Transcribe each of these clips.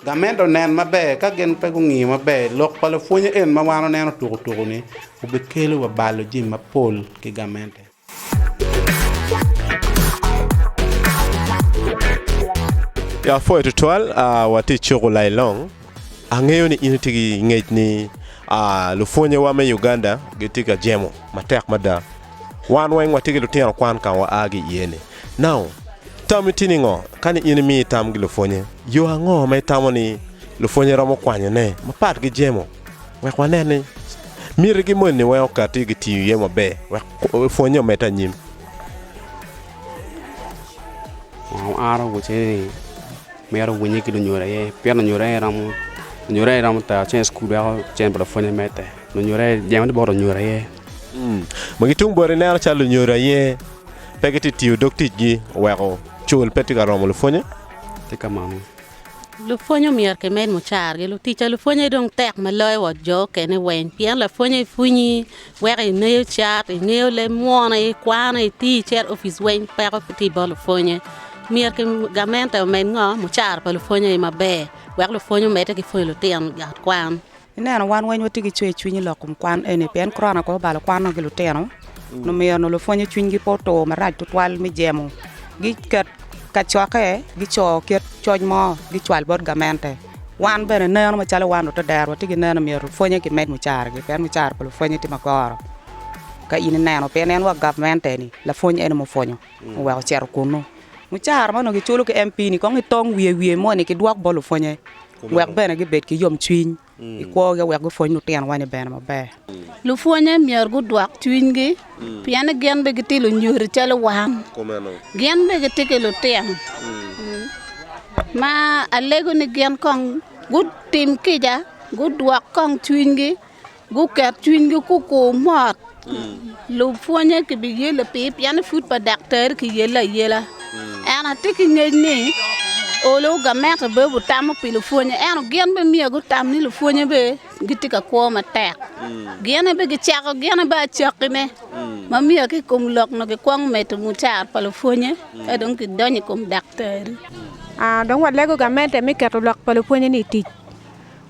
Gamedo nen maber ka gin pe gungiyo maber. Lok pa lapwonye en ma wan waneno tukutuku-ni obikelo wa balo jami mapol ki gamente. Ya pwoyo tutwal, watye i cuku Lailong. Angeyo ni in itye ki ngec ni lupwonyewa me Uganda gitye ka jemo matek mada. Wan weng watye ki lutino kwan ka wa a ki iye-ni. Now, tami tye ningo ka ni in imiyo itam gi lupwonye? Yo ango ma itamo ni lupwonye romo kwanyone mapat gi jemo? Wek wanen ni mitigi moni weng okati gitiyo iye maber wek pwonye omedde anyim. Now, aro wuce ni mito winye ki lunyodo aye pien lunyodo aye romo lunyodo aye romo tero cen i cukul weko cen pa lapwony omedde. Lunyodo aye jemo tye bot lunyodo aye. Magi tung bote ineno calo lunyodo aye. Pe gitye ka tiyo dog ticgi oweko cul pe tye ka romo lupwonnye? Tye kamano. Lupwonnye myero kimed mucargi. Lutic a lupwonnye dong tek ma loyo wa jo okene weng, pien lapwonnye i pwinyi, weko ingeyo cat, ingeyo leb mwono, ikwano, itii, icito opic weng peko pe tye i bot lupwonnye. Myero ki gamente omed ngo? Mucara pa lupwonnye aye maber wek lupwonnye omedde ki pwonyo lutino ot kwan. Ineno wan weng watye ki cwer cwiny i lok kom kwan eni pien korona aye obalo kwanwa ki lutino nyo omiyo onongo lupwonye cwinygi pe otur marac tutwal me jemo giket kacokke gico kit coc mo gicwal bot gamente wan bene neno macalo wan lutedero watye ki neno myero lupwonye kimed mucaragi pien mucara pa lupwonye tye magoro ka in ineno pien en wa gamente ni lapwony ene mupwonyo oweko ocito kunu mucara ma onongo kiculo ki MP ni kong itong wiye wiye moni kidwok bot lupwonye wek bene gibed ki yomcwiny i kwogi wek gupwony lutinowa ni bene maber. Lupwonnye myero gudwok cwinygi pien ni gin bene gitye lunyodo calo wan. Gin bene gitye ki lutino ma alego ni gin kong gutim kica, gudwok kong cwinygi. guket cwinygi gukur mot lupwonnye kibiyelo piny pien ni pud pa daktar kiyele ayela ento atye ki ngec ni olo gamente bene obitamo pi lupwonnye ento gin bene myero gutam ni lupwonnye bene gitye ka kwo matek gine bene gicako gine bene acakkine ma myero ki i kom lok nongo gikwongo medo mucara pa lupwonnye ka dong kidonyo i kom daktari. Dong walego gamente me keto lok pa lupwonnye-ni i tic.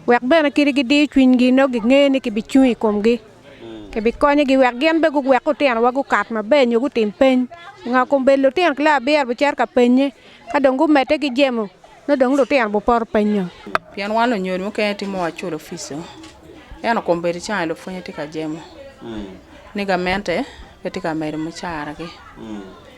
wek bene kadi gidiyo cwinygi nongo ginge ni kibicung i komgi. Kibikonyogi wek gin bene guwek lutinowa gukat maber nyo gutim peny. Pingo kombeddi lutino ki loyo abiro bicito ka penye ka dong gumedde ki jemo nongo dong lutino bupoto penyo? Pien wan lunyodo mukene timo wa culo fico, ento kombeddi cani lupwonye tye ka jemo ni gamente pe tye ka medo mucaragi.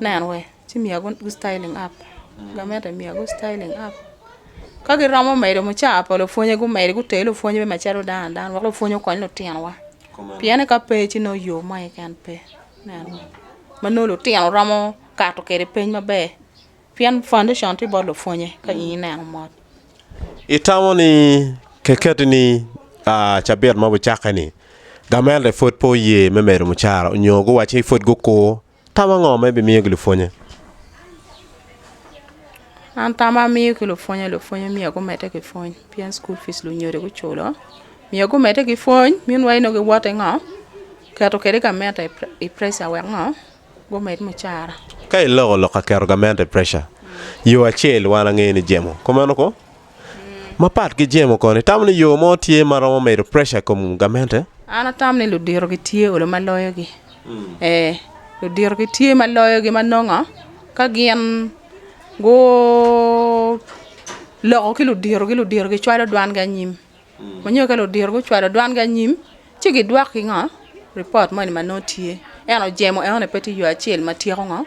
Nen we, ci miya gu styling app. Gamente miya gu styling app. Ka giromo medo mucawa pa lupwonye gumedi guteri lupwony me macalo dano adana wek lupwony okony lutinowa. Pien ni ka pe ci nongo yo mo keken pe. Nen we, ma nongo lutino romo kato kwede piny maber. Pien foundation tye bot lupwonye ka in ineno mot. Itamo ni kiketi ni cabit ma wucakke-ni gamente pud pe oye me medo mucara onyo guwacci pud gukur Tam ango ma ibimiyo ki lupwonnye? An tam ma amiyo ki lupwonnye, lupwonnye myero gumedde ki pwony pien cukul pic lunyodo guculo, myero gumedde ki pwony minwai nongo giwoto ki ngo, keto kwede gamente i preca wek ngo gumed mucara. Ka iloko lok ka keto gamente i preca, yo acel wan angeyo ni jemo, kumeno ko? Mapat ki Jemo kono, itamo ni yo mo tye ma romo medo preca i kom gamente? An atamo ni ludito gitye olo ma loyogi. Ee, ludito gitye ma loyogi ma nongo ka gin guloko ki luditogi, luditogi cwalo dwangi anyim. Onyo ka ludito gucwalo dwangi anyim, ci gidwok ki ngo? Report moni ma nongo tye. En ojemo enoni pe tye yo acel ma tyeko ngo?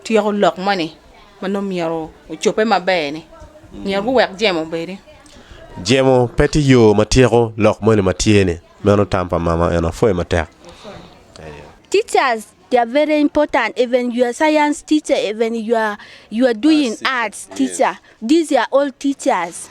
Tyeko lok moni ma nongo myero ocobbe maber ni. Myero guwek jemo obedi. Jemo pe tye yo ma tyeko lok moni ma tye ni. Meno tam pa mama eno apwoyo matek. Aye. Teachers they are very important even your science teacher even your your doing arts teacher these are all teachers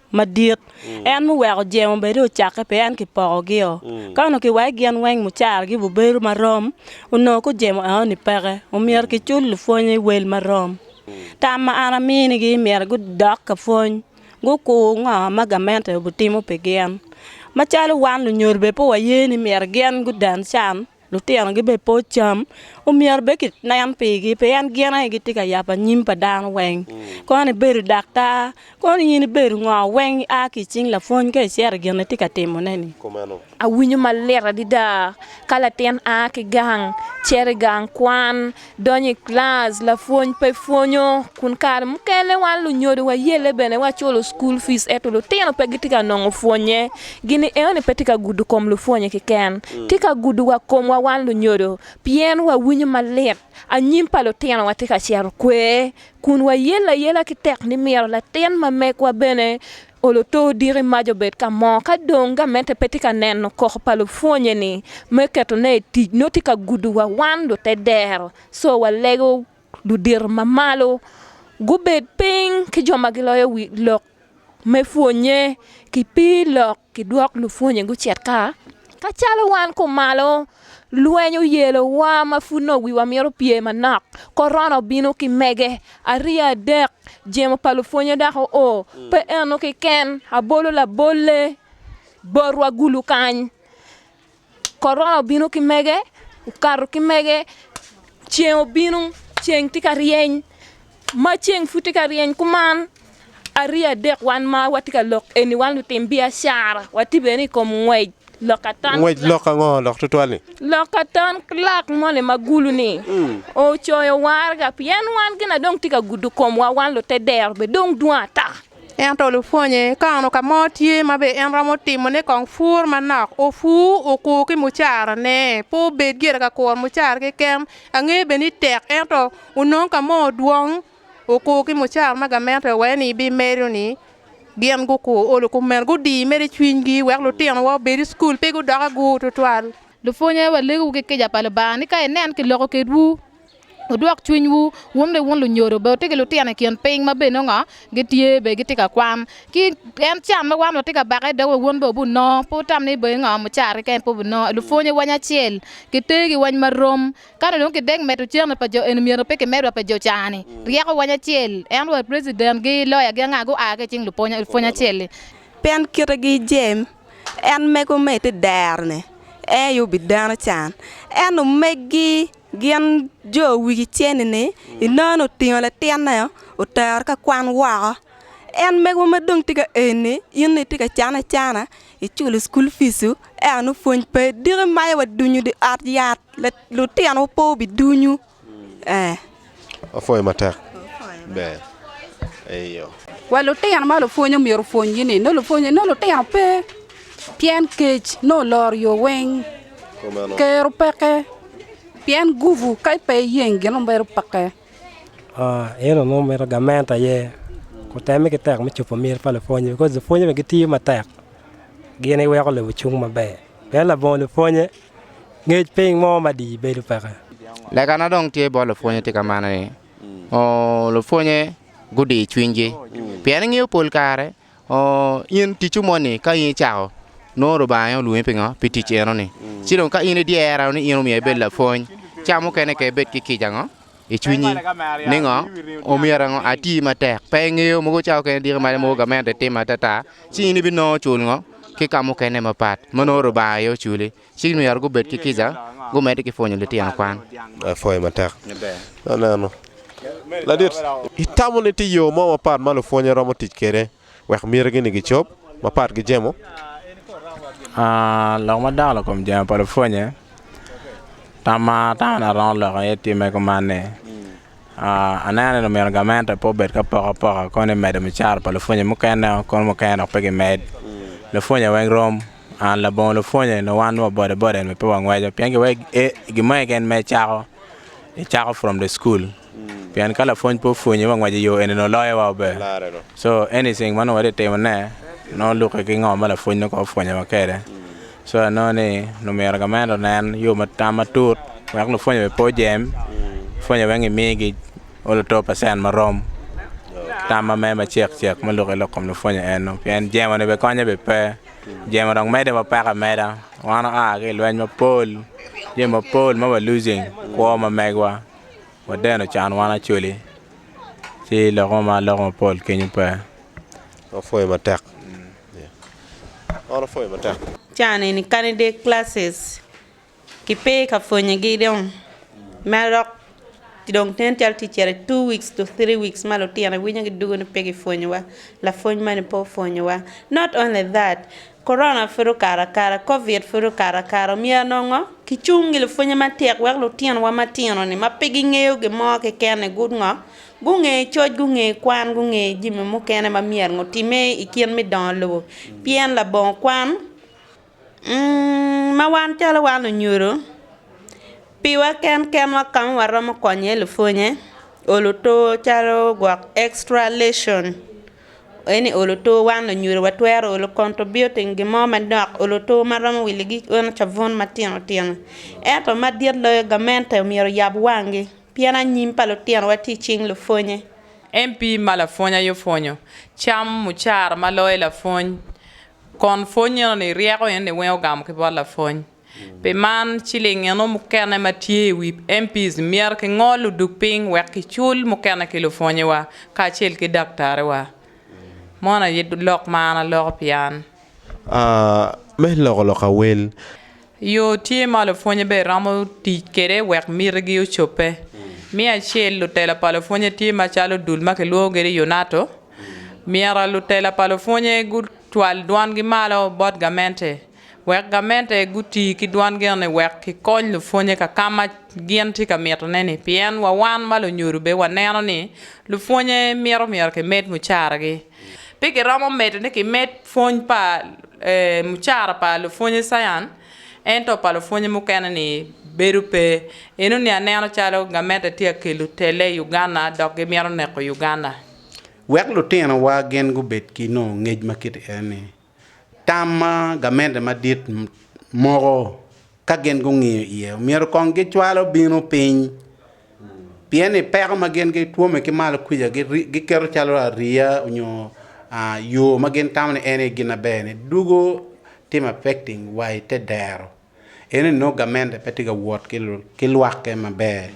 madit. En muweko jemo bene ocakke pi en kipokogi-o. Ka onongo kiweko gin weng mucaragi obubedo marom, onongo ku jemo enoni peke, omyero kicul lupwonnye wel marom. Tam ma an aminigi myero gudok ka pwony, gukur ngo ma gamente obitimo pi gin. Macalo wan lunyodo bene pe waye ni myero gin guden can, Lutino gibedo pe ocam, omyero bed ki nen pigi pien gin aye gitye ka yabo anyim pa dano weng. Koni ibedo daktar, koni in ibedo ngo weng i a ki i cing lapwony ka icito i gin itye ka timone-ni. Awinyo malit adada ka latin a ki gang cito i gang kwan Donyo i kilac, lapwony pe pwonyo, kun kare mukene wan lunyodo wayelle bene waculo cukul pic ento lutino pe gitye ka nongo pwonnye. Gini enoni pe tye ka gudo kom lupwonye keken, tye ka gudo wa komwa wan lunyodo pien wawinyo malit anyim pa lutinowa tye ka cito kwer kun wayelle ayela ki tek ni myero latin ma megwa bene Olo to odiki mac obed ka mo. Ka dong gamente pe tye ka neno koko pa lupwonye-ni me ketone i tic, nongo tye ka gudowa wan lute dero. Co walego ludito ma malo gubed piny ki jo ma giloyo wi lok me pwonye, kipii lok kidwok lupwonye gucit ka, ka calo wan kumalo. Lweny oyelowa ma pud nongo wiwa mito pye manok. Korona obino ki mege, ariya adek, jemo pa lupwonye dok oo. Pe eno keken, abolo labolle botwa gulu kany. Korona obino ki mege, okato ki mege, ceng obino, ceng tye ka ryeny. Ma ceng pud tye ka ryeny kuman, arye adek wan ma watye ka lok eni wan lutim biacara, watye bene i kom ngwec loka ton Ngwec kilak. lok ango lok tutwal-li? Loka ton kilak moni ma gulu-ni ocoyo waraga pien wan gina dong tye ka gudo komwa, wan lute dero bene dong dwong ata. Ento lupwonye ka onongo ka mo tye ma be en romo timone kong pur manok, opur, okur ki mucara ne. Pe obed gire ka kuro mucara keken, angeyo bene ni tek ento Onongo ka mo odwong okur ki mucaka ma gamente owee ni bimedo-ni, gin gukur olo kumeno gudii mere cwinygi wek lutinowa obed i cukul pe gudok agur tutwal. Lupwonye, walegewu ki kica pa Lubanga ni ka inen ki loko kedwu, wudwok cwinywu, wun ni wun lunyodo, bene watye ki lutino i kin piny ma bene nongo gitye bene gitye ka kwan ki en can ma wan watye ka bake i dogewa, wun bene wubin nongo. Pe wutam ni bene nongo mucaka keken pe wubinongo. Lupwonye weny acel, kitegi weny ma rom, Kano dong ki dek medo cente pa jo eni myero pe ki medwa pe jo cani ryeko wany acel en wa president gi lawyer gi anga gu aa ki icing lupwony acel ni. Pien kite gi jem en mego me ite dero ni en aye obi dano can en omegi gin jo wigi ceni ni inono ni otingo latin ne otero ka kwan woko en mego ma dong tye ka eni in ni ite ka cane acana Iculo cukul picu ento nongo pwony pe diki ma aye wadunyo dye ot yat lutinowa pe wubidunyu ee. Wapwoyo matek ber eyo. Wa lutino ma lupwony omyero opwonygi ni nongo lupwony nongo lutino pe pien kec nongo oloro yo weng kero peke pien gubu ka pe iyeng gin ma bedo peke. En onongo mito gamente aye, oteme ki tek me cobo myero pa lupwonye bikos lupwonye bene gitiyo matek gin iweko lobo cung maber pien labongo lupwonye ngec piny mo madii bedo peke. Lekana dong tye bot lupwonye tye ka mane ni lupwonye gudi cwinygi pien ingeyo pol kare In ticwu moni ka in icako, nongo Rubanga aye olwongi pingo? Pi tic enoni. Ci dong ka in idyera ni in omyero ibed lapwony, ca mukene ka ibed ki kica ango i cwinyi ni ngo omyero ango ati matek, pe ingeyo mogo ca mukene diki malo mogo gamente itimo atata, ci in ibinongo cul ngo ki ka mukene mapat ma nongo Rubanga aye oculi. Ci myero gubed ki kica, gumedde ki pwonyo litino kwan. Lapwony matek aneno ladit. Itamo ni tye yo mo mapat ma lupwonye romo tic kwede wek mitigi-ni gicob mapat ki jemo? Lok ma dako lakom jemo pa lupwonye, tam ma atamo ni aromo loko iye timme kuman ni, aneno ni omyero gamente pe obed ki apokapoka kono ni medo mucara pa lupwonye mukene-o, kono mukene dok pe gimed. Lupwonye weng rom. An labongo lupwonye nyo wan wa bode bode en pe wangweco pien gi wek e gi mo eken ma icako icako from the school pien ka lapwony pe opwonyi wa ngweco iyo eni nongo loyo wa maber so anything ma nongo watye ka timo ne nongo luke ki ngo ma lapwony nongo kong opwonyo wa kede so anongo ni nongo myero gamente onen yo ma tam matut wek lupwonye bene pe ojem pwonye weng imi gi o luto pacen ma rom tam ma me ma cek cek me luke lok kom lupwonye eno pien jemo ne bene konye bene pe Jemo dong medde ma peko ameda wan oa ki i lweny mapol jemo mapol ma wa losing kwo ma megwa wadeno can wan acoli ci lok mo ma aloko mapol kenyo pe romo pwoyo matek romo pwoyo matek. Ki pe ka pwonye gi dong mere dok ki dong nen calo tye cito i two weeks to three weeks ma lutino i winyo gi dugo ni pe ki pwonyo wa lapwony mani pe opwonyo wa not only that Corona pud okato akata covid pud okato akata omyero nongo ki cung gi lapwonye matek wek lutino wa matino ni ma pe gi ngeyo gi mo keken ni gu ngo gu nge coc gu nge kwan gu nge jami mukene ma myero ngo time i kit me dongo lobo pien labongo kwan Ma wan calo wan onyuto, piwa ken kenwa ka ma waromo konyo iye lupwonnye, olo otur calo gwok extra lesson ento i olo otur wan lunyuto watwero olo contributing gin mo manok olo otur ma romo wi ligit eno cabun matino tino ento madit loyo gamente myero oyab wangi pien anyim pa lutinowa tye i cing lupwonnye. MP ma lapwony aye opwonyo, cam mucara ma loyo lapwony Kon pwony eno ni ryeko eno ni weng ogamo ki bot lapwony. Pi man, ciling eno mukene ma tye i wi MPs myero ki ngol odug piny wek ki cul mukene ki lupwonyewa kacel ki daktarewa. Mono aye lok ma an aloko pi an. Me loko lok awel. Yo tye ma lupwonye bene romo tic kwede wek mitigi ocobbe. Me acel, lutela pa lupwonye tye macalo dul ma kilwongo kwede Yunato. Myero lutela pa lupwonye gucwal dwangi malo bot gamente wek gamente guti ki dwangi eno-ni wek kikony lupwonye ka ka ma gin tye ka mitone-ni. Pien wa wan ma lunyodo bene waneno ni lupwonye mito myero kimed mucaragi. Pe giromo medo ni kimed pwony pa mucara pa lupwonye Sayan, ento pa lupwonye mukene ni bedo pe. Eno ni aneno calo gamente tye ka kelo telle i Uganda dok gimito neko Uganda. Wek lutinowa gin gubed ki nongo ngec ma kite eni, Tam ma gamente madit moko ka gin gungiyo iye, omyero kong gicwalo bino piny, pien ni peko ma gin gitwome ki malo kwica giketo calo ariya onyo yo ma gin tamo ni en aye gin aber ni dugo timo affecting wa i te dero. Eno ni nongo gamente pe tye ka wot ki lwakke maber,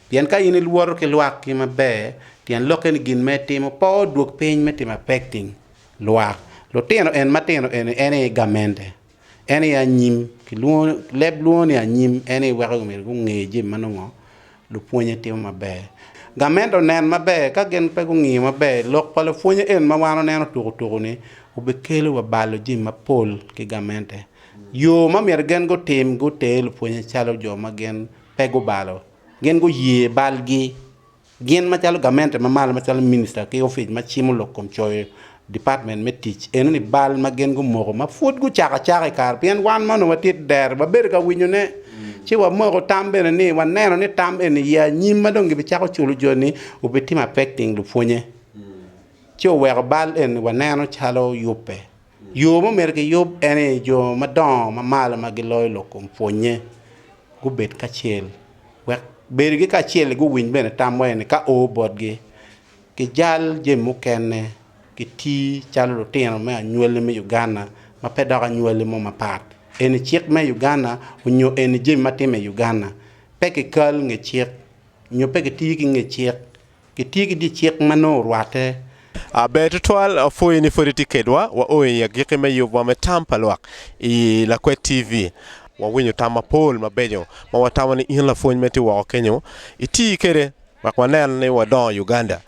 pien ka in iwoto ki lwakki maber tyen lokke ni gin ma itimo pe odwog piny me timo affecting. lwak lutino en matino eni en aye gamente en aye anyim leb lwongo ni anyim en aye weko myero gunge jami ma nongo lupwonye timo maber gamente onen maber ka gin pe gungiyo maber lok pa lapwonye en ma wan waneno tuku tuku ni obikelo wa balo jami mapol ki gamente yo ma myero gin gutim guter lupwonye calo jo ma gin pe gubalo gin guye balgi Gin macalo gamente ma malo macalo minista ki ofic ma cimo lok kom coyo department me tic eno ni bal ma gin gumoko ma pud gucako acaka i kare pien wan ma onongo watye dero wabedo ka winyo ne ci wamoko tam bene ni waneno ni tam eni ya anyim ma dong gibi cako culo jo ni obi timo affecting lupwonye ci oweko bal eni waneno calo yubbe. Yo ma omyero kiyub en ni jo madongo ma malo ma giloyo lok kom pwonnye gubed kacel, wek bedogi kacel-li guwiny bene tam wa eni ka oo botgi. Gijal jami mukene, giti calo lutino me anywalli me Uganda ma pe dok anywalli mo mapat. Eni cik me Uganda onyo eni jami ma timme i Uganda. Pe kikal nge cik, nyo pe kiti ki nge cik. Gitye ki dye cik ma nongo orwatte. A Ber tutwal apwoyo ni pwod itye kedwa. Wa o i agikki me yubwa me tam pa lwak i Lakwet TV. Wawinyo tam mapol mabeco ma watamo ni in lapwony ma itye woko kenyo iti kwede wek wanen ni wadongo Uganda.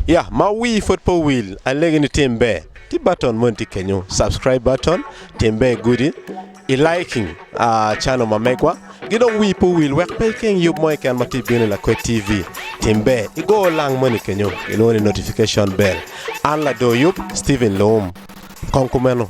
Ya ma wii pwod pe owil, alegi ni tim ber, ti button moni tye kenyo, subscribe button, tim ber gudi. I liking a channel ma megwa ki dong wii pe owil wek pe ikeng yub mo keken ma tye bino i lakwed TV tim ber igo lang moni kenyo kilwongo ni notification bell an lador yub Steven Loum kong kumeno.